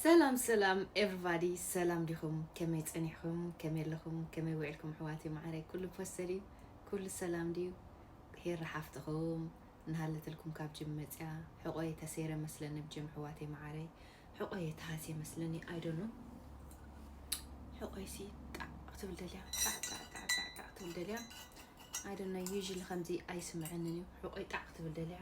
ሰላም ሰላም ኤቭሪባዲ ሰላም ዲኹም ከመይ ጸኒሕኹም ከመይ ኣለኹም ከመይ ዊዕልኩም ኣሕዋተይ ማዓረይ ኩሉ ፖስተር እዩ ኩሉ ሰላም ድዩ ሄሪ ሓፍትኹም እናሃለትልኩም ካብ ጅም መጽያ ሕቆየ ተሰይረ መስለኒ ብ ጅም ኣሕዋተይ ማዓረይ ሕቆየ ተሃስየ መስለኒ ኣይ ዶንት ኖው ሕቆይሲ ጣዕ ክትብል ደልያ ጣዕ ጣዕ ጣዕ ጣዕ ጣዕ ክትብል ደልያ ኣይ ዶንት ኖው ዩዥሊ ከምዚ ኣይስምዐንን እዩ ሕቆይ ጣዕ ክትብል ደልያ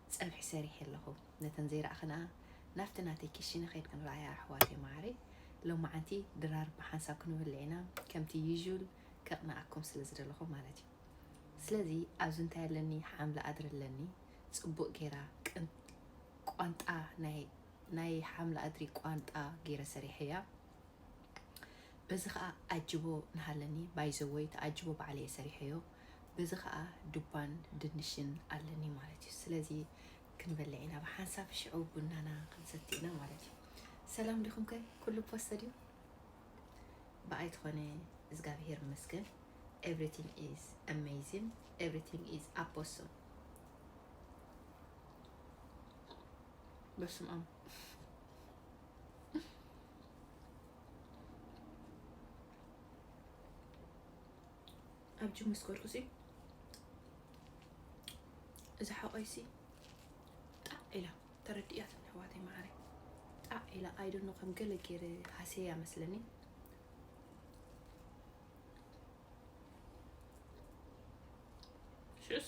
ጸብሒ ሰሪሐ ኣለኹ ነተን ዘይረኣኽንኣ ናብቲ ናተይ ክሽነ ከድኪ ንረኣያ ኣሕዋተይ መዓረይ ሎማዓንቲ ድራር ብሓንሳብ ክንበልዕ ኢና ከምቲ ዩዥል ከቅንኣኩም ስለ ዝደለኹ ማለት እዩ ስለዚ ኣብዚ እንታይ ኣለኒ ሓምሊ ኣድሪ ኣለኒ ጽቡቅ ጌራ ቅን ቋንጣ ናይ ናይ ሓምሊ ኣድሪ ቋንጣ ጌረ ሰሪሐያ በዚ ከኣ ኣጅቦ ንሃለኒ ባይዘወይ ተኣጅቦ ባዕለ እየ ሰሪሐዮ በዚ ከኣ ዱባን ድንሽን ኣለኒ ማለት እዩ ስለዚ ክንበልዕ ኢና ብሓንሳብ ሽዑ ቡናና ክንሰቲ ኢና ማለት እዩ ሰላም ዲኹም ከ ኩሉ ፖስተ ድዩ ብኣይ ትኾነ እግዚኣብሄር ይመስገን ኤቭሪቲንግ ኢዝ ኣሜዚን ኤቭሪቲንግ ኢዝ ኣፖሶ በስም ኣም ኣብ ጅም ምስ ከድኩ ሲ እዚ ሓቆይ ሲ ጣዕ ኢላ ተረዲእያትኒ ኣሕዋተይ መዓረይ ጣዕ ኢላ ኣይደኖ ከም ገለ ገይረ ሃሰያ መስለኒ ሽዑስ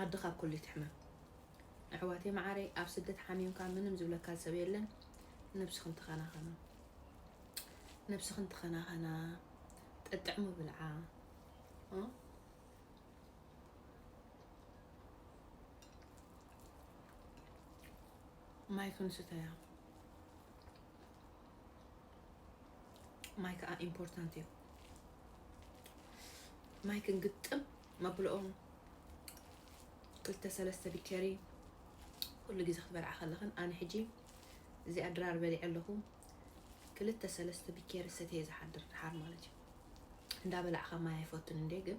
ዓዲ ካብ ኩሉ ይትሕመም ኣሕዋተይ መዓረይ ኣብ ስደት ሓሚምካ ምንም ዝብለካ ሰብ የለን ነብስክን ተኸናኸና ነብስክን ተኸናኸና ጠጥዕሙ ብልዓ ማይ ክንስተያ ማይ ከዓ ኢምፖርታንት እዩ ማይ ክንግጥም መብልኦም ክልተ ሰለስተ ቢቸሪ ኩሉ ግዜ ክትበልዓ ከለኽን ኣነ ሕጂ እዚኣ ድራር በሊዐ ኣለኹ ክልተ ሰለስተ ቢኬሪ ሰተየ ዝሓድር ድሓር ማለት እዩ እንዳበላዕካ ማይ ኣይፈቱን እንዴ ግን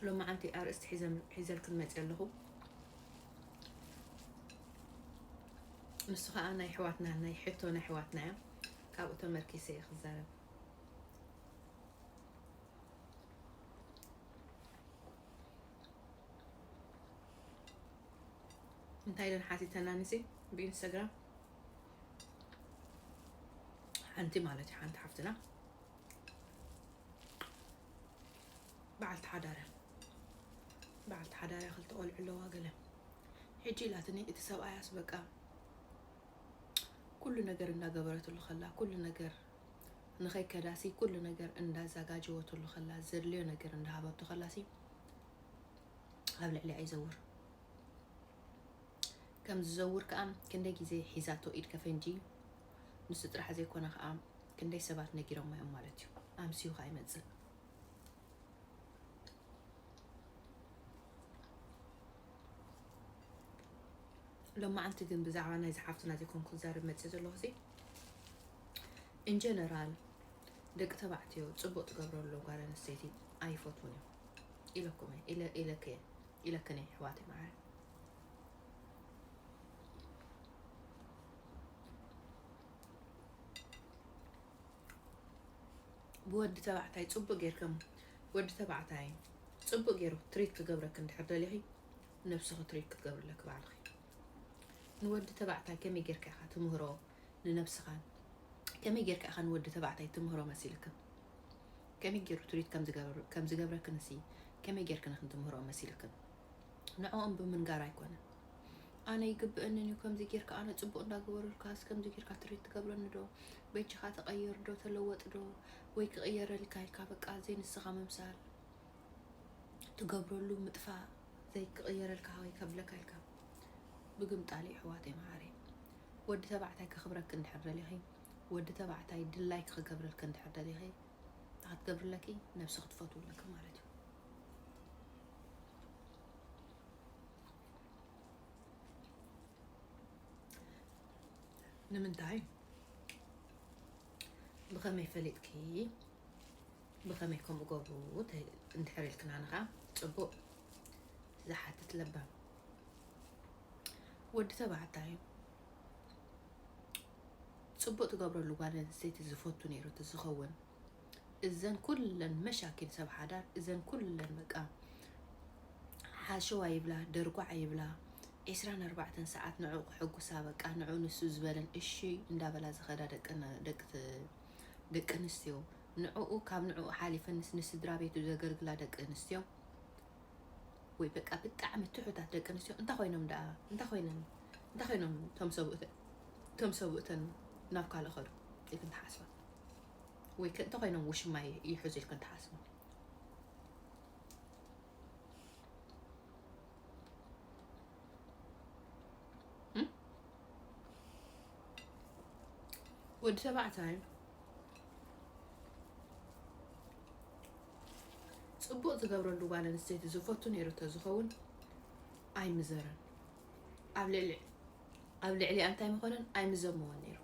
ሎማዓንቲ ኣርእስቲ ሒዘ ሒዘልክን መጽየ ኣለኹ ንሱ ከዓ ናይ ኣሕዋትና ናይ ሕቶ ናይ ኣሕዋትና እያ ካብኡ ተመርኪሰ እየ ክዛረብ እንታይ ኢለን ሓቲተና ንሲ ብኢንስታግራም ሓንቲ ማለት እዩ ሓንቲ ሓፍትና በዓልቲ ሓዳርያ በዓልቲ ሓዳርያ ክልተ ቆልዑ ኣለዋ ገለ ሕጂ ኢላትኒ እቲ ሰብኣያስ በቃ ኩሉ ነገር እንዳገበረትሉ ከላ ኩሉ ነገር ንኸይከዳሲ ኩሉ ነገር እንዳዛጋጀወትሉ ከላ ዘድልዮ ነገር እንዳሃበቶ ከላሲ ኣብ ልዕሊያ ይዘውር ከም ዝዘውር ከኣን ክንደይ ግዜ ሒዛቶ ኢድ ከፈንጂ ንሱ ጥራሕ ዘይኮነ ከኣ ክንደይ ሰባት ነጊሮሞ እዮም ማለት እዩ ኣምስዩ ከኣ ይመጽእ። ሎማዓንቲ ግን ብዛዕባ ናይዚ ሓፍትና ዘይኮንኩ ክዛረብ መጽየ ዘለኹ ሲ ኢንጀነራል ደቂ ተባዕትዮ ጽቡቅ ትገብረሉ ጓል ኣንስተይቲ ኣይፈትዉን እዮም ኢለኩም ኢለክየ ኢለክን ኣሕዋተይ መዓረ ብወዲ ተባዕታይ ጽቡቅ ጌርኪ ወዲ ተባዕታይ ጽቡቅ ጌሩ ትሪት ክገብረኪ እንድሕር ደሊኺ ነብስኺ ትሪት ክትገብርለኪ ባዕልኺ ንወዲ ተባዕታይ ከመይ ጌርካ ኢኻ ትምህሮ ንነብስኻን ከመይ ጌርካ ኢኻ ንወዲ ተባዕታይ ትምህሮ መሲልክን ከመይ ጌሩ ትሪት ከም ዝገብረክንሲ ከመይ ጌርክን ክንትምህሮ መሲልክን ንዕኦም ብምንጋር ኣይኮነን ኣነ ይግበእንን እዩ ከምዚ ጌርካ ኣነ ጽቡቅ እንዳገበሩልካስ ከምዚ ጌርካ ትሪት ትገብረኒ ዶ በጃካ ተቀየር ዶ ተለወጥ ዶ ወይ ክቅየረልካ ኢልካ በቃ ዘይ ንስካ ምምሳል ትገብረሉ ምጥፋእ ዘይ ክቅየረልካ ወይ ከብለካ ኢልካ ብግምጣል እዩ ኣሕዋተይ መዓረይ ወዲ ተባዕታይ ከክብረኪ እንድሕር ደሊኺ ወዲ ተባዕታይ ድላይኪ ክገብረልኪ እንድሕር ደሊኺ እንታይ ክትገብርለኪ ነብሲ ክትፈትውለኪ ማለት እዩ ንምንታይ ብኸመይ ፈሊጥኪ ብኸመይ ከምኡ ገብሩ እንድሕር ኢልክና ንኻ ፅቡቅ ዝሓትት ለባም ወዲ ተባዕታይ ፅቡቅ ትገብረሉ ጓል ኣንስተይቲ ዝፈቱ ነይሩ ዝኸውን እዘን ኩለን መሻኪን ሰብ ሓዳር እዘን ኩለን በቃ ሓሸዋ ይብላ ደርጓዓ ይብላ ዒስራን ኣርባዕተን ሰዓት ንዑ ክሕጉሳ በቃ ንዑ ንሱ ዝበለን እሺ እንዳበላ ዝኸዳ ደቂ ኣንስትዮ ንዕኡ ካብ ንዕኡ ሓሊፈንስ ንስድራ ቤቱ ዘገልግላ ደቂ ኣንስትዮ ወይ በቃ ብጣዕሚ ትሑታት ደቂ ኣንስትዮ እንታይ ኮይኖም ደኣ እንታይ ኮይነን እንታይ ኮይኖም እቶም ሰብኡተን ናብ ካልእ ኸዱ ኢልክን ትሓስባ ወይ ክእንተ ኮይኖም ውሽማ ይሕዙ ኢልክን ትሓስቡ ወዲ ተባዕታይ ፅቡቅ ዝገብረሉ ጓል ኣንስተይቲ ዝፈቱ ነይሩ ተዝኸውን ኣይምዘረን ኣብ ልዕሊ ኣብ ልዕሊኣ እንታይ ምኾነን ኣይምዘምዎን ነይሩ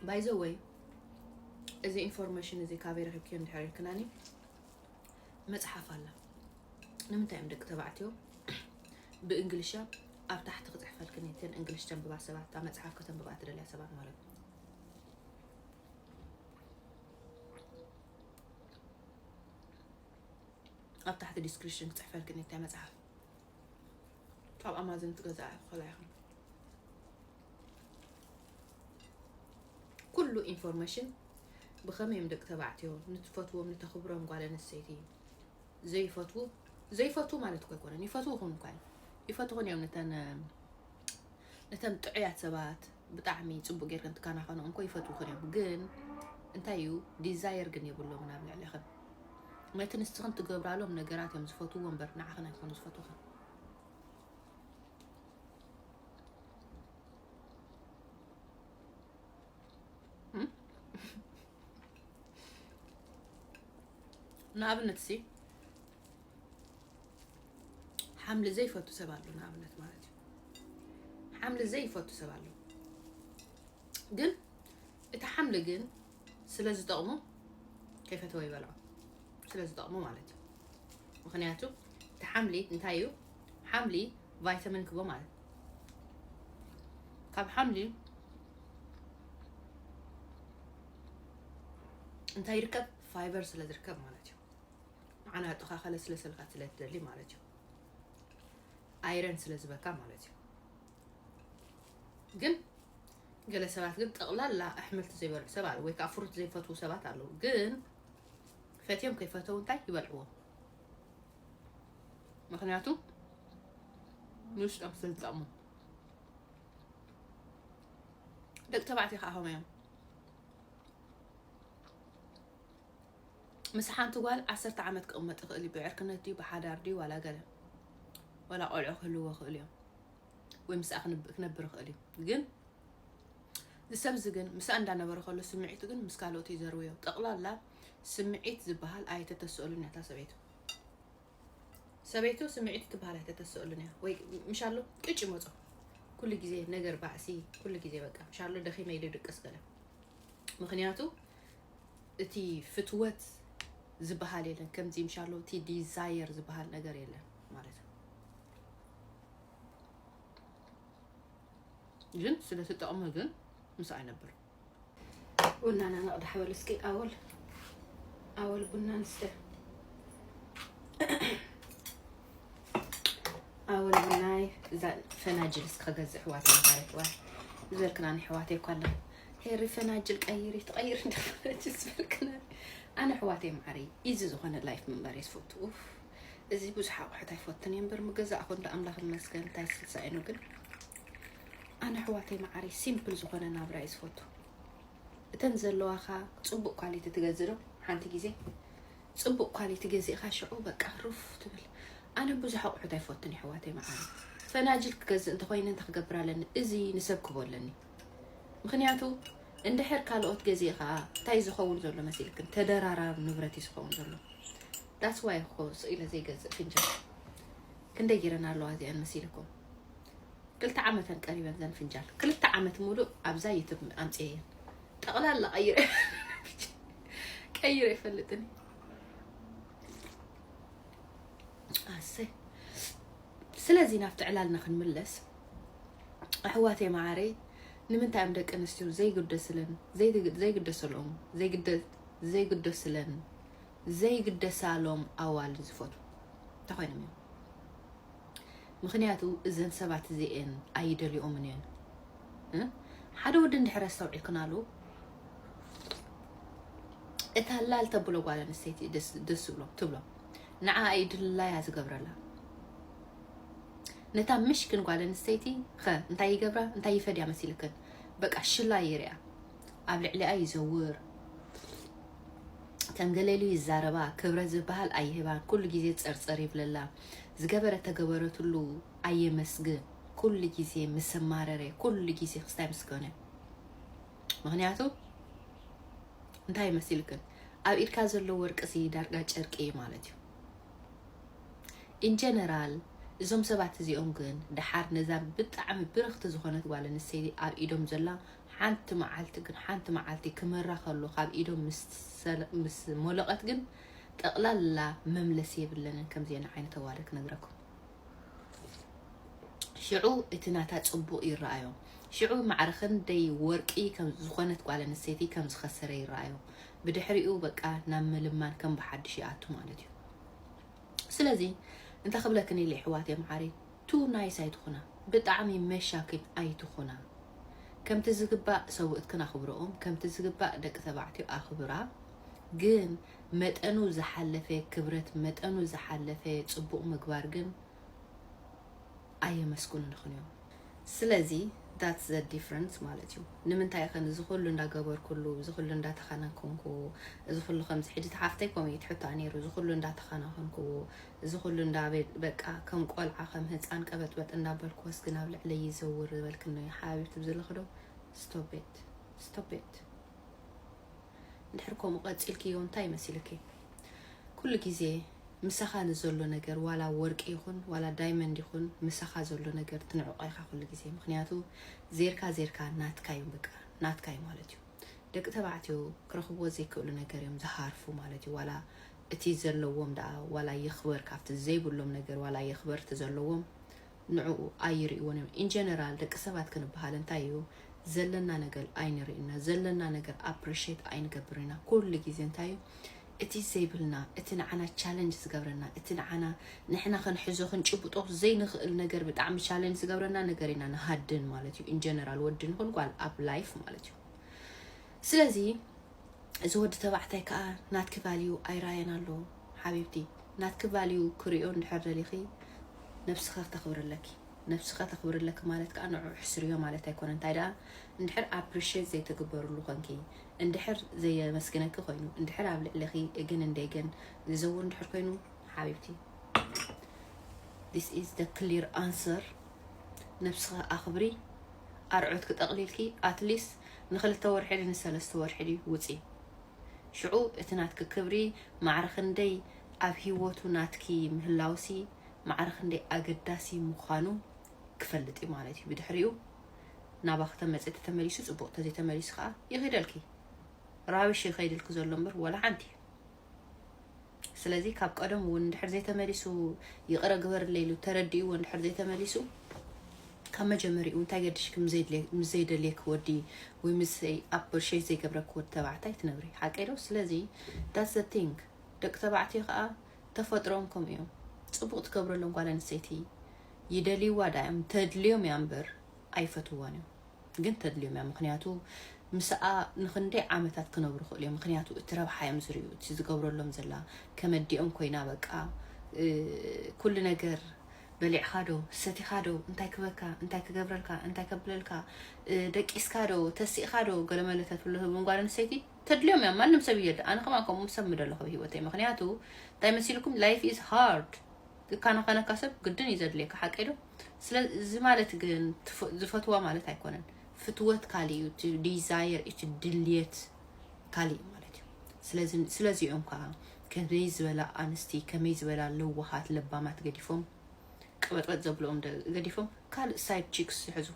ባይዘወይ እዚ ኢንፎርሜሽን እዚ ካበይ ረኪብክዮ እንድሕር ኢልክናኒ መፅሓፍ ኣላ ንምንታይ እዮም ደቂ ተባዕትዮ ብእንግሊሻ ኣብ ታሕቲ ክፅሕፈልክን እየን እንግሊሽ ተንብባ ሰባት እታ መፅሓፍ ከተንብባ ትደልያ ሰባት ማለት እዩ ኣብ ታሕቲ ዲስክሪሽን ክጽሕፈልክን እታ መጽሓፍ ካብ ኣማዞን ትገዝኣ ትኽእላ ኢኽን ኩሉ ኢንፎርሜሽን ብኸመይ እዮም ደቂ ተባዕትዮ ንትፈትዎም ንተኽብሮም ጓል ኣንስተይቲ ዘይፈትዉ ዘይፈትዉ ማለት እኮ ኣይኮነን ይፈትዉኹን እኳ ይፈትኹን እዮም ነተን ነተን ጥዑያት ሰባት ብጣዕሚ ጽቡቅ ጌርክን ትካናከንኦ እንኮ ይፈትውክን እዮም ግን እንታይ እዩ ዲዛየር ግን የብሎምን ኣብ ልዕልክን ነቲ ንስክን ትገብራሎም ነገራት እዮም ዝፈትዎ እምበር ንዓክን ኣይኮኑ ዝፈትውክን ንኣብነት ሲ ሓምሊ ዘይፈቱ ሰብ ኣሎ ንኣብነት ማለት እዩ ሓምሊ ዘይፈቱ ሰብ ኣሎ ግን እቲ ሓምሊ ግን ስለ ዝጠቕሙ ከይፈተወ ይበልዖ ስለ ዝጠቕሙ ማለት እዩ ምክንያቱ እቲ ሓምሊ እንታይ እዩ ሓምሊ ቫይታሚን ክቦ ማለት ካብ ሓምሊ እንታይ ይርከብ ፋይበር ስለ ዝርከብ ማለት እዩ ንዓና ጥካ ከለስለሰልካ ስለ ትደሊ ማለት እዩ ኣይረን ስለ ዝበካ ማለት እዩ ግን ገለ ሰባት ግን ጠቕላላ ኣሕምልቲ ዘይበልዑ ሰብ ኣለ ወይ ከዓ ፍሩት ዘይፈትዉ ሰባት ኣለዉ ግን ፈትዮም ከይፈተው እንታይ ይበልዕዎ ምክንያቱ ንውሽጦም ስለ ዝጠቕሙ ደቂ ተባዕትዮ ከዓ ከምኡ እዮም ምስ ሓንቲ ጓል ዓሰርተ ዓመት ክቕመጥ ይኽእል እዩ ብዕርክነት ድዩ ብሓዳር ድዩ ዋላ ገለ ዋላ ቆልዑ ክህልዎ ይኽእሉ እዮም ወይ ምስኣ ክነብር ይኽእል እዩ ግን ንሰብ እዚ ግን ምስኣ እንዳነበረ ከሎ ስምዒቱ ግን ምስ ካልኦት እዩ ዘርውዮ ጠቕላላ ስምዒት ዝበሃል ኣይተተስእሉን እያ እታ ሰበይቱ ሰበይቱ ስምዒት ትበሃል ኣይተተስእሉን እያ ወይ ምሻሎ ቅጭ ይመፆ ኩሉ ግዜ ነገር ባእሲ ኩሉ ግዜ በቃ ምሻሎ ደኺመ ኢሉ ድቅስ ገለ ምክንያቱ እቲ ፍትወት ዝባሃል የለን ከምዚ ምሻሎ እቲ ዲዛየር ዝባሃል ነገር የለን ማለት እዩ ግን ስለ ትጠቕሙ ግን ምስ ኣይነብር ቡናና ነቕዳሕ በሉ እስኪ ኣወል ኣወል ቡና ንስተ ኣወል ቡናይ እዛ ፈናጅል እስከ ገዝእ ሕዋት ማረት ዋ ዝበልክና ንሕዋት የኳ ኣለኹ ሄሪ ፈናጅል ቀይሪ ትቀይሪ እንዳ ፈናጅል ዝበልክና ኣነ ኣሕዋተይ መዓረይ ኢዚ ዝኾነ ላይፍ ምንባር እየ ዝፈቱ ኡፍ እዚ ብዙሕ ኣቑሑት ኣይፈትን እየ እምበር ምገዛእኹ እንዳ ኣምላኽ ይመስገን እንታይ ስልሳ ኢኖ ግን ኣነ ኣሕዋተይ መዓረይ ሲምፕል ዝኾነ ናብራ እየ ዝፈቱ እተን ዘለዋኻ ፅቡቅ ኳሊቲ ትገዝእ ዶ ሓንቲ ግዜ ፅቡቅ ኳሊቲ ገዚእኻ ሽዑ በቃ ሩፍ ትብል ኣነ ብዙሕ ኣቑሑት ኣይፈትን እየ ኣሕዋተይ መዓረይ ፈናጅል ክገዝእ እንተኮይነ እንታይ ክገብር ኣለኒ እዚ ንሰብ ክቦ ኣለኒ ምኽንያቱ እንድሕር ካልኦት ገዚእኻ እንታይ ዝኸውን ዘሎ መሲልክን ተደራራቢ ንብረት እዩ ዝኸውን ዘሎ ዳትስ ዋይ እኮ ስቕ ኢለ ዘይገዝእ ፍንጃል ክንደይ ጌረን ኣለዋ እዚኣን መሲልኩም ክልተ ዓመተን ቀሪበን ዘን ፍንጃል ክልተ ዓመት ሙሉእ ኣብዛ ዩቱብ ኣምፅየን ጠቕላላ ቀይረ ቀይረ ይፈልጥን ኣሰይ ስለዚ ናብቲ ዕላልና ክንምለስ ኣሕዋት የመዓረይ ንምንታይ እዮም ደቂ ኣንስትዮ ዘይግደስለን ዘይግደሰሎም ዘይግደስለን ዘይግደሳሎም ኣዋል ዝፈቱ እንተኮይኖም እዮም ምክንያቱ እዘን ሰባት እዚኤን ኣይደልኦምን እየን ሓደ ወዲ እንድሕር ኣስተውዒልክናሉ እታ ላል ተብሎ ጓል ኣንስተይቲ ደስ ዝብሎ ትብሎ ንዓ እዩ ድላያ ዝገብረላ ነታ ምሽክን ጓል ኣንስተይቲ ኸ እንታይ ይገብራ እንታይ ይፈድያ መሲልክን በቃ ሽላ ይርያ ኣብ ልዕሊኣ ይዘውር ከም ገለሉ ይዛረባ ክብረት ዝበሃል ኣይህባን ኩሉ ግዜ ፀርፀር ይብለላ ዝገበረ ተገበረትሉ ኣየመስግን ኩሉ ግዜ ምሰማረረ ኩሉ ግዜ ክስታይ ምስ ኮነ ምክንያቱ እንታይ መሲልክን ኣብ ኢድካ ዘሎ ወርቂ ሲ ዳርጋ ጨርቂ እዩ ማለት እዩ ኢንጀነራል እዞም ሰባት እዚኦም ግን ድሓር ነዛ ብጣዕሚ ብርኽቲ ዝኾነት ጓል ኣንስተይቲ ኣብ ኢዶም ዘላ ሓንቲ መዓልቲ ግን ሓንቲ መዓልቲ ክመራ ከሎ ካብ ኢዶም ምስ ሞለቐት ግን ጠቕላላ መምለሲ የብለንን ከምዚአን ዓይነት ኣዋርድ ክነግረኩም ሽዑ እቲ ናታ ጽቡቕ ይረኣዮ። ሽዑ ማዕረ ክንደይ ወርቂ ከም ዝኾነት ጓል ኣንስተይቲ ከም ዝኸሰረ ይረኣዮ። ብድሕሪኡ በቃ ናብ ምልማን ከም ብሓድሽ ይኣቱ ማለት እዩ። ስለዚ እንታይ ክብለክን ኢለ ኣሕዋተይ መዓረይ ቱ ናይስ ኣይትኹና፣ ብጣዕሚ መሻኪል ኣይትኹና። ከምቲ ዝግባእ ሰውእትክን ኣኽብርኦም፣ ከምቲ ዝግባእ ደቂ ተባዕትዮ ኣኽብራ ግን መጠኑ ዝሓለፈ ክብረት መጠኑ ዝሓለፈ ጽቡቕ ምግባር ግን ኣየመስግኑንኽን እዮም። ስለዚ that's the difference ማለት እዩ። ንምንታይ ኢኽን እዚ ኩሉ እንዳገበርኩሉ፣ እዚ ኩሉ እንዳተኸናኸንኩዎ፣ እዚ ኩሉ ከምዚ ሕጂ እታ ሓፍተይ ከምኡ እዩ እቲ ሕቶኣ ነይሩ፣ እዚ ኩሉ እንዳተኸናኸንኩዎ፣ እዚ ኩሉ እንዳ በቃ ከም ቆልዓ ከም ህጻን ቀበጥበጥ እንዳበልኩዎስ ግን ኣብ ልዕለይ ይዘውር ዝበልክኖ ሓቢብቲ ብዝለኽዶ stop it stop it እንድሕር ከምኡ ቀጺልክዮ እንታይ መሲልኪ ኩሉ ግዜ ምሳኻ ንዘሎ ነገር ዋላ ወርቂ ይኹን ዋላ ዳይመንድ ይኹን ምሳኻ ዘሎ ነገር ትንዕቆ ኢኻ ኩሉ ግዜ ምክንያቱ ዜርካ ዜርካ ናትካ እዩ በቃ ናትካ እዩ ማለት እዩ ደቂ ተባዕትዮ ክረኽብዎ ዘይክእሉ ነገር እዮም ዝሃርፉ ማለት እዩ ዋላ እቲ ዘለዎም ደኣ ዋላ ይኽበር ካብቲ ዘይብሎም ነገር ዋላ ይኽበር እቲ ዘለዎም ንዕኡ ኣይሪእዎን እዮም in general ደቂ ሰባት ክንብሃል እንታይ እዩ ዘለና ነገል ኣይንሪእን ኢና ዘለና ነገር appreciate ኣይንገብርን ኢና ኩሉ ግዜ እንታይ እዩ እቲ ዘይብልና እቲ ንዓና challenge ዝገብረና እቲ ንዓና ንሕና ክንሕዞ ክንጭብጦ ዘይንኽእል ነገር ብጣዕሚ challenge ዝገብረና ነገር ኢና ንሃድን ማለት እዩ in general ወዲ ንኹን ጓል ኣብ life ማለት እዩ ስለዚ እዚ ወዲ ተባዕታይ ከዓ ናትኪ ቫልዩ ኣይረኣየን ኣሎ ሓቢብቲ ናትኪ ቫልዩ ክሪኦ እንድሕር ደሊኺ ነብስኺ ክተኽብሪ ኣለኪ ነብስኺ ተኽብሪ ኣለኪ ማለት ከኣ ንዕዑ ሕስርዮ ማለት ኣይኮነን እንታይ ደኣ እንድሕር ኣፕሪሼት ዘይትግበርሉ ኮንኪ እንድሕር ዘየመስግነኪ ኮይኑ እንድሕር ኣብ ልዕሊኺ እግን እንዴግን ዝዘውር እንድሕር ኮይኑ ሓቢብቲ this is the clear answer ነብስኺ ኣኽብሪ ኣርዑት ክጠቕሊልኪ ኣትሊስት ንክልተ ወርሒ ንሰለስተ ወርሒ ውፂ ሽዑ እቲ ናትኪ ክብሪ ማዕረ ክንደይ ኣብ ሂወቱ ናትኪ ምህላውሲ ማዕረ ክንደይ ኣገዳሲ ምዃኑ ክፈልጥ እዩ ማለት እዩ ብድሕሪኡ ናባኺ ተመጽ ተተመሊሱ ጽቡቕ ተዘይ ተመሊሱ ከኣ ይኺደልኪ ራብሽ ይኸይድልኪ ዘሎ እምበር ወላ ሓንቲ ስለዚ ካብ ቀደሙ እውን እንድሕር ዘይተመሊሱ ይቕረ ግበርለይ ኢሉ ተረዲእዎ እንድሕር ዘይተመሊሱ ካብ መጀመሪኡ እንታይ ገድሽኪ ምስ ዘይደልየኪ ወዲ ወይ ምስ ኣፕርሼት ዘይገብረኪ ወዲ ተባዕታይ ትነብሪ ሓቂ ዶ ስለዚ ዳት ዘ ቲንግ ደቂ ተባዕትዮ ከዓ ተፈጥሮም ከምኡ እዮም ፅቡቅ ትገብረሎም ጓል ኣንስተይቲ ይደልይዋ ዳዮም ተድልዮም እያ እምበር ኣይፈትዋን እዮም ግን ተድልዮም እያ ምክንያቱ ምስኣ ንክንደይ ዓመታት ክነብሩ ይክእሉ እዮም ምክንያቱ እቲ ረብሓ እዮም ዝርዩ እቲ ዝገብረሎም ዘላ ከመዲኦም ኮይና በቃ ኩሉ ነገር በሊዕካ ዶ ሰቲካ ዶ እንታይ ክበካ እንታይ ክገብረልካ እንታይ ከብለልካ ደቂስካ ዶ ተሲእካ ዶ ገለመለ ተትብሎ ህብን ጓል ኣንስተይቲ ተድልዮም እያ ማንም ሰብ እየ ኣነ ከማ ከምኡ ሰብ ምደለኹ ህይወተይ ምክንያቱ እንታይ መሲልኩም ላይፍ ኢዝ ሃርድ ክካናኸነካ ሰብ ግድን እዩ ዘድልየካ ሓቀይ ዶ ስለ እዚ ማለት ግን ዝፈትዋ ማለት ኣይኮነን ፍትወት ካሊእ እዩ እቲ ዲዛየር እቲ ድልየት ካሊእ እዩ ማለት እዩ ስለዚ ስለዚኦም ከዓ ከመይ ዝበላ ኣንስቲ ከመይ ዝበላ ለዋሃት ለባማት ገዲፎም ቀበጥበጥ ዘብልኦም ገዲፎም ካልእ ሳይድ ቺክስ ዝሕዙ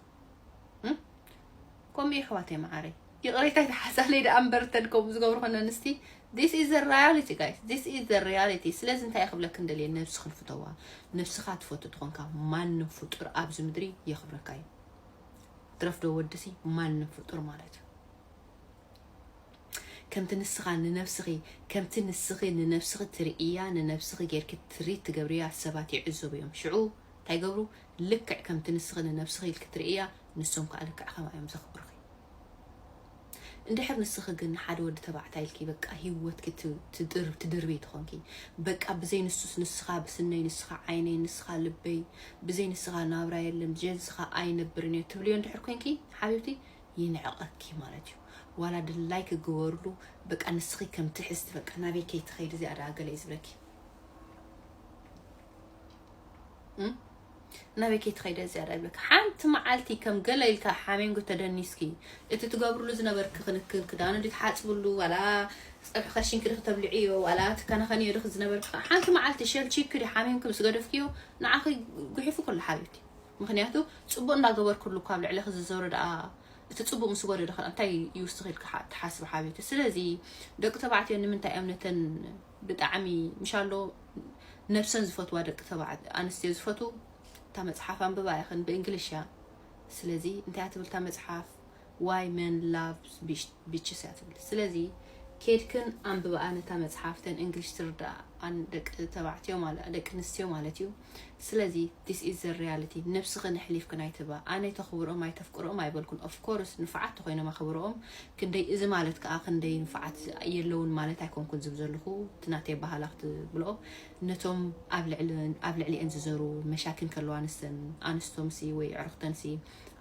ከምኡ የሕዋተይ መዓረይ ይቕሬታ ይተሓሳለይ ደኣ እምበር እተን ከምኡ ዝገብሩ ኮነ ኣንስቲ ዚስ ኢዝ ሪያሊቲ ጋይስ ዚስ ኢዝ ሪያሊቲ ስለዚ እንታይ ክብለክ እንደልየ ነብስኽን ፍተዋ ነብስኻ ትፈቱ ትኾንካ ማንም ፍጡር ኣብዚ ምድሪ የኽብረካ እዩ ትረፍዶ ወድሲ ማንም ፍጡር ማለት እዩ ከምቲ ንስኻ ንነብስኺ ከምቲ ንስኺ ንነብስኺ ትርእያ ንነብስኺ ጌርኪ ትሪት ትገብርያ ሰባት ይዕዘቡ እዮም ሽዑ እንታይ ገብሩ ልክዕ ከምቲ ንስኺ ንነብስኺ ኢልኪ ትርእይያ ንሶም ከኣ ልክዕ ከምኣ እዮም ዘኽብሩኺ። እንድሕር ንስኺ ግን ንሓደ ወዲ ተባዕታይ ኢልኪ በቃ ሂወትኪ ትድርብዪ ተኾንኪ በቃ ብዘይ ንሱስ ንስኻ ብስነይ ንስኻ ዓይነይ ንስኻ ልበይ ብዘይ ንስኻ ናብራ የለን ብዘይ ንስኻ ኣይነብርን እየ ትብልዮ እንድሕር ኮንኪ ሓቢብቲ ይንዕቐኪ ማለት እዩ። ዋላ ድላይ ክግበርሉ በቃ ንስኺ ከም ትሕዝቲ በቃ ናበይ ከይትኸይዲ እዚኣ ደኣ ገለ እዩ ዝብለኪ። ናበይ ከይትኸይደ ዝያዳ ይብለካ ሓንቲ መዓልቲ ከም ገለ ኢልካ ሓሜንጎ ተደኒስኪ እቲ ትገብርሉ ዝነበርኪ ክንክን ክዳኑ ዲ ትሓፅብሉ ዋላ ፀብሒ ከሽንኪ ዲ ክተብልዕዮ ዋላ ትከናኸንዮ ዲ ዝነበርኪ ሓንቲ መዓልቲ ሸልቺኪ ዲ ሓሜንኪ ምስ ገደፍክዮ ንዓኺ ጉሒፉ ኩሉ ሓቢብቲ ምክንያቱ ፅቡቅ እንዳገበርክሉ እኳ ኣብ ልዕለኺ ዝዞሩ ደኣ እቲ ፅቡቅ ምስ ጎደለ ከ እንታይ ይውስኽ ኢልካ ትሓስቢ ሓቢብቲ ስለዚ ደቂ ተባዕትዮ ንምንታይ እዮም ነተን ብጣዕሚ ምሻሎ ነብሰን ዝፈትዋ ደቂ ተባዕት ኣንስትዮ ዝፈትዉ እታ መጽሓፍ ኣንብባ ኢኽን ብእንግሊሽ እያ ስለዚ እንታይ እያ ትብል እታ መጽሓፍ why men loves bitches እያ ትብል ስለዚ ኬድክን ኣንብባኣ ነታ መጽሓፍ ተን እንግሊሽ ትርዳኣን ደቂ ተባዕትዮ ማለት ደቂ ኣንስትዮ ማለት እዩ ስለዚ this is the reality ነብስኽን ኣሕሊፍክን ኣይትህባ ኣነ ተኽብሮኦም ኣይተፍቅሮኦም ኣይበልኩን of course ንፉዓት ተኾይኖም ኣኽብሮኦም ክንደይ እዚ ማለት ከኣ ክንደይ ንፉዓት የለውን ማለት ኣይኮንኩን ዝብ ዘለኹ እቲ ናተይ ኣበሃህላ ክትብልኦ ነቶም ኣብ ልዕሊ ኣብ ልዕሊኤን ዝዘሩ መሻኪን ከለዋ ንሰን ኣንስቶምሲ ወይ ኣዕሩኽተንሲ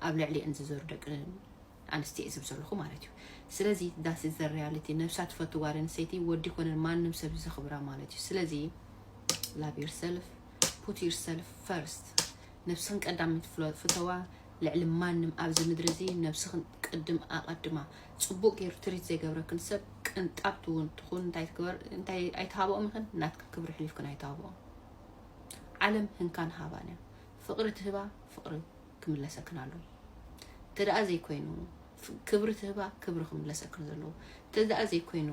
ኣብ ልዕሊኤን ዝዘሩ ደቂ ኣንስትየ ዝብ ዘለኹ ማለት እዩ ስለዚ ዳስ ኢዝ ዘ ሪያሊቲ ነብሳ ትፈቱ ጓል ኣንስተይቲ ወዲ ኮነ ማንም ሰብ ዘኽብራ ማለት እዩ ስለዚ ላቭ ዩር ሰልፍ ፑት ዩር ሰልፍ ፈርስት ነብስኽን ቀዳመይቲ ፍሎ- ፍተዋ ልዕሊ ማንም ኣብዚ ምድሪ እዚ ነብስኽን ቅድም ኣቐድማ ፅቡቅ ገይሩ ትሪት ዘይገብረክን ሰብ ቅንጣብቲ እውን ትኹን እንታይ ትግበር እንታይ ኣይትሃብኦም ይኽን ናትክን ክብሪ ሕሊፍክን ኣይትሃብኦም ዓለም ህንካን ሃባን እያ ፍቅሪ ትህባ ፍቅሪ ክምለሰክን ኣለዎ እንተደኣ ዘይኮይኑ ክብሪ ትህባ ክብሪ ክምለሰክን ዘለዎ እንተደኣ ዘይኮይኑ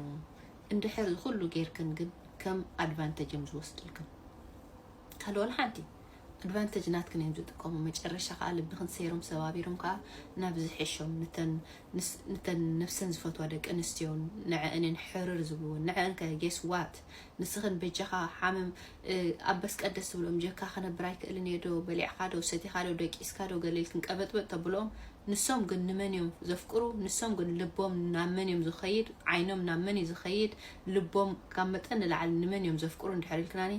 እንድሕር ዝኩሉ ጌርክን ግን ከም ኣድቫንተጅ እዮም ዝወስድልክን ካልእ ወላ ሓንቲ ኣድቫንተጅ ናትክን እዮም ዝጥቀሙ መጨረሻ ከዓ ልብክን ሰይሮም ሰባቢሮም ከዓ ናብ ዝሕሾም ንተን ነብሰን ዝፈትዋ ደቂ ኣንስትዮን ንዐአንን ሕርር ዝብልዎ ንዐን ከ ጌስ ዋት ንስኽን በጃኻ ሓምም ኣበስ ቀደስ ትብሎም ጀካ ክነብር ኣይክእልን እየ ዶ በሊዕኻ ዶ ሰቲኻ ዶ ደቂስካ ዶ ገለ ኢልክን ቀበጥበጥ ተብልኦም ንሶም ግን ንመን እዮም ዘፍቅሩ ንሶም ግን ልቦም ናብ መን እዮም ዝኸይድ ዓይኖም ናብ መን እዩ ዝኸይድ ልቦም ካብ መጠን ንላዕሊ ንመን እዮም ዘፍቅሩ እንድሕር ኢልክናኒ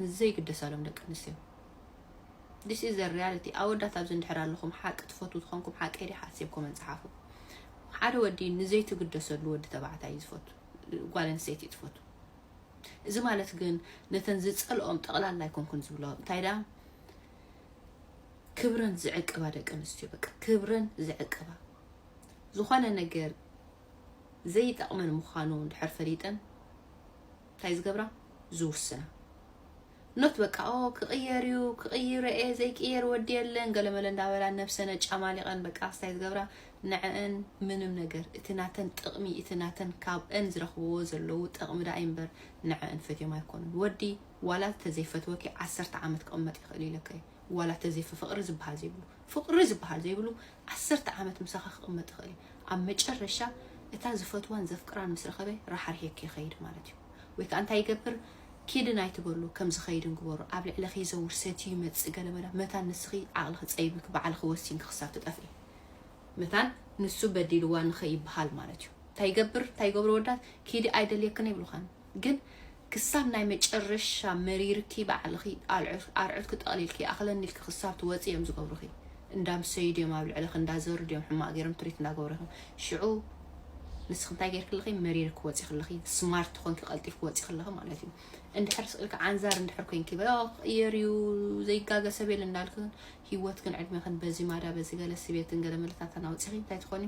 ንዘይግደሳሎም ደቂ ኣንስትዮ ዲስ ኢዝ ዘ ሪያሊቲ ኣወዳት ኣብዚ እንድሕር ኣለኹም ሓቂ ትፈትዉ ዝኾንኩም ሓቂ ዲሓሲብኩም እንፅሓፉ ሓደ ወዲ ንዘይትግደሰሉ ወዲ ተባዕታይ እዩ ዝፈቱ ጓል ኣንስተይቲ እዩ ትፈቱ እዚ ማለት ግን ነተን ዝጸልኦም ጠቕላላ ኣይኮንኩን ዝብሎ እንታይ ደኣ ክብረን ዝዕቅባ ደቂ ኣንስትዮ በቃ ክብረን ዝዕቅባ ዝኾነ ነገር ዘይጠቕመን ምዃኑ እንድሕር ፈሊጠን እንታይ ዝገብራ ዝውስና ኖት በቃ ኦ ክቕየር እዩ ክቕይሮ እየ ዘይቅየር ወዲ የለን ገለመለ እንዳበላ ነብሰን ኣጫማሊቐን በቃ ኣስታይ ዝገብራ ንዐን ምንም ነገር እቲ ናተን ጥቕሚ እቲ ናተን ካብአን ዝረኽብዎ ዘለዉ ጥቕሚ ደኣ እምበር ንዐን ፈትዮም ኣይኮኑን ወዲ ዋላ ተዘይፈትወኪ ዓሰርተ ዓመት ክቕመጥ ይኽእል ኢለካ እዩ ዋላ ተዘይፈ ፍቕሪ ዝበሃል ዘይብሉ ፍቕሪ ዝበሃል ዘይብሉ ዓሰርተ ዓመት ምሳኻ ክቕመጥ ይኽእል እዩ ኣብ መጨረሻ እታ ዝፈትዋን ዘፍቅራን ምስ ረኸበ ራሓሪሒኪ ይኸይድ ማለት እዩ ወይ ከዓ እንታይ ይገብር ኪድን ኣይትበሉ ከምዚ ከይድን ግበሩ ኣብ ልዕለኺ ይዘውር ሰትዩ ይመጽእ ገለ በላ መታን ንስኺ ዓቕልኺ ጸይብልኪ ባዕልኺ ወሲንኪ ክሳብ ትጠፍኢ መታን ንሱ በዲልዋ ንኸይብሃል ማለት እዩ እንታይ ይገብር እንታይ ይገብሩ ወዳት ኪዲ ኣይደልየክን ይብልኻን ግን ክሳብ ናይ መጨረሻ መሪርኪ ባዕልኺ ኣርዑትኪ ጠቕሊልኪ ኣኽለኒ ኢልኪ ክሳብ ትወጽ እዮም ዝገብሩኺ እንዳምሰዩ ድዮም ኣብ ልዕለኺ እንዳዘሩ ድዮም ሕማቕ ገይሮም ትሪት እንዳገብሩ ይኹም ሽዑ ንስኺ እንታይ ጌርኪ ኣለኺ መሪር ክወፂ ክለኺ ስማርት ኮንኪ ቀልጢፍ ክወፂ ክለኺ ማለት እዩ እንድሕር ስቅልካ ዓንዛር እንድሕር ኮንኪ በ ክቅየር እዩ ዘይጋገ ሰብ የለ እንዳልክን ሂወት ግን ዕድሜኽን በዚ ማዳ በዚ ገለ ስቤትን ገለ መለታታን ኣውፂኺ እንታይ ትኾኒ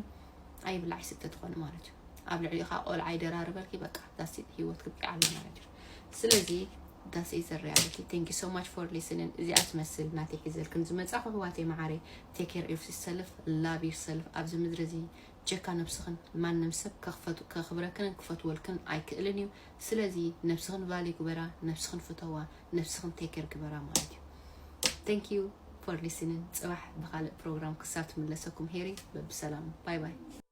ኣይብላዕ ይስተ ትኾኒ ማለት እዩ ኣብ ልዕሊኡ ከዓ ቆልዓ ይደራርበልኪ በቃ ዳስቲት ሂወት ክብቂዕ ኣሎ ማለት እዩ ስለዚ ዳስ ኢዝ ዘ ሪያሊቲ ቴንክ ዩ ሶ ማች ፎር ሊስንን እዚኣ ትመስል ናተይ ሒዘልክን ዝመፃኹ ኣሕዋተይ መዓረይ ቴክ ኬር ኦፍ ሰልፍ ላቭ ዩር ሰልፍ ኣብዚ ምድሪ እዚ ጀካ ነብስኽን ማንም ሰብ ከኽብረክንን ክፈትወልክን ኣይክእልን እዩ ስለዚ ነብስኽን ቫሊ ግበራ ነብስኽን ፍተዋ ነብስኽን ቴክ ኬር ግበራ ማለት እዩ ቴንክ ዩ ፎር ሊስንን ፅባሕ ብካልእ ፕሮግራም ክሳብ ትምለሰኩም ሄሪ በብሰላሙ ባይ ባይ